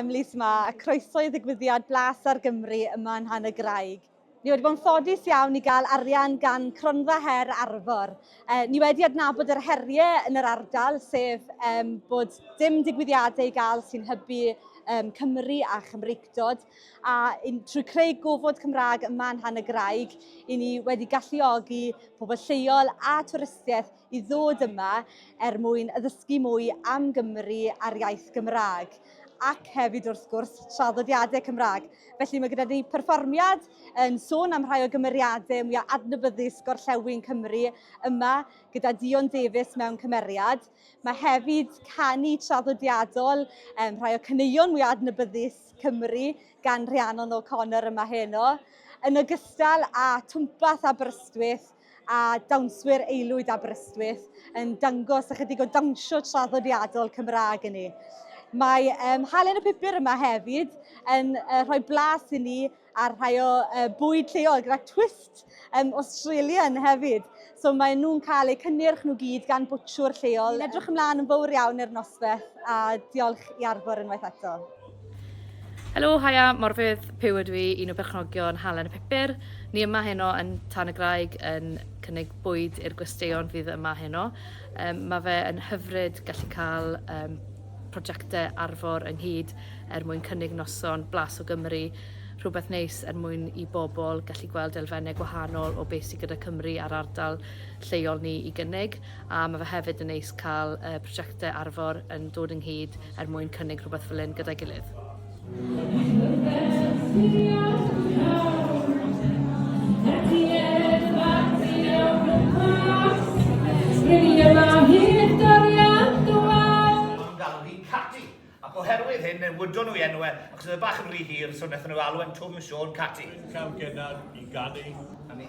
Emily Sma a croeso i ddigwyddiad Blas ar Gymru yma yn Han y Graig. Ni wedi bod yn ffodus iawn i gael arian gan Cronfa Her Arfor. E, ni wedi adnabod yr heriau yn yr ardal, sef e, bod dim digwyddiadau i gael sy'n hybu e, Cymru a Chymreictod. a trwy creu gofod Cymraeg yma yn Rhan y Graig, i ni wedi galluogi pobl lleol a twristiaeth i ddod yma er mwyn addysgu mwy am Gymru a'r iaith Gymraeg ac hefyd wrth gwrs traddodiadau Cymraeg. Felly mae gyda ni perfformiad yn sôn am rhai o gymeriadau mwyaf adnabyddus gorllewin Cymru yma gyda Dion Davies mewn cymeriad Mae hefyd canu traddodiadol, um, rhai o caneuon mwy adnabyddus Cymru gan Rhiannon O'Connor yma heno, yn ogystal â twmpath Aberystwyth a dawnswyr aelwyd Aberystwyth yn dangos ychydig o dawnsio traddodiadol Cymraeg i ni. Mae um, Halen y Pupur yma hefyd yn uh, rhoi blas i ni a rhai o uh, bwyd lleol gyda twist um, Australian hefyd. So maen nhw'n cael eu cynnyrch nhw gyd gan bwtshwr lleol. Edrych ymlaen yn fawr iawn i'r nosbeth a diolch i Arfor unwaith eto. Helo, haia, Morfydd, Pew ydw i, un o berchnogion Halen y Pupur. Ni yma heno yn Tan y Graig yn cynnig bwyd i'r gwesteion fydd yma heno. Um, mae fe yn hyfryd gallu cael um, prosiectau Arfor ynghyd er mwyn cynnig noson blas o Gymru, rhywbeth neis er mwyn i bobl gallu gweld elfennau gwahanol o beth sydd gyda Cymru a'r ardal lleol ni i gynnig, a mae fe hefyd yn neis cael y prosiectau Arfor yn dod ynghyd er mwyn cynnig rhywbeth fel hyn gyda'i gilydd. newydon nhw i enw e, achos oedd y bach yn rhy hir, so wnaethon nhw alw e'n Twm Siôn Cati. Dwi'n cael genad i ganu. A mi.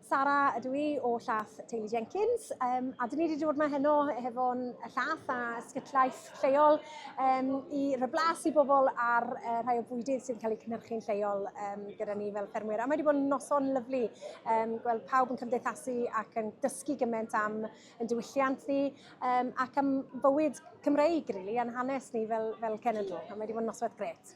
Sara ydw i o llath teulu Jenkins um, a dyn ni wedi dod mae heno hefo'n llath a sgytlaeth lleol um, i reblas i bobl ar uh, rhai o bwydydd sy'n cael eu cynhyrchu'n lleol um, gyda ni fel ffermwyr. A mae wedi bod yn noson lyflu um, gweld pawb yn cymdeithasu ac yn dysgu gymaint am yn diwylliant ni um, ac am bywyd Cymreig, really, a'n hanes ni fel, fel cenedl. A mae wedi bod yn noswaith gret.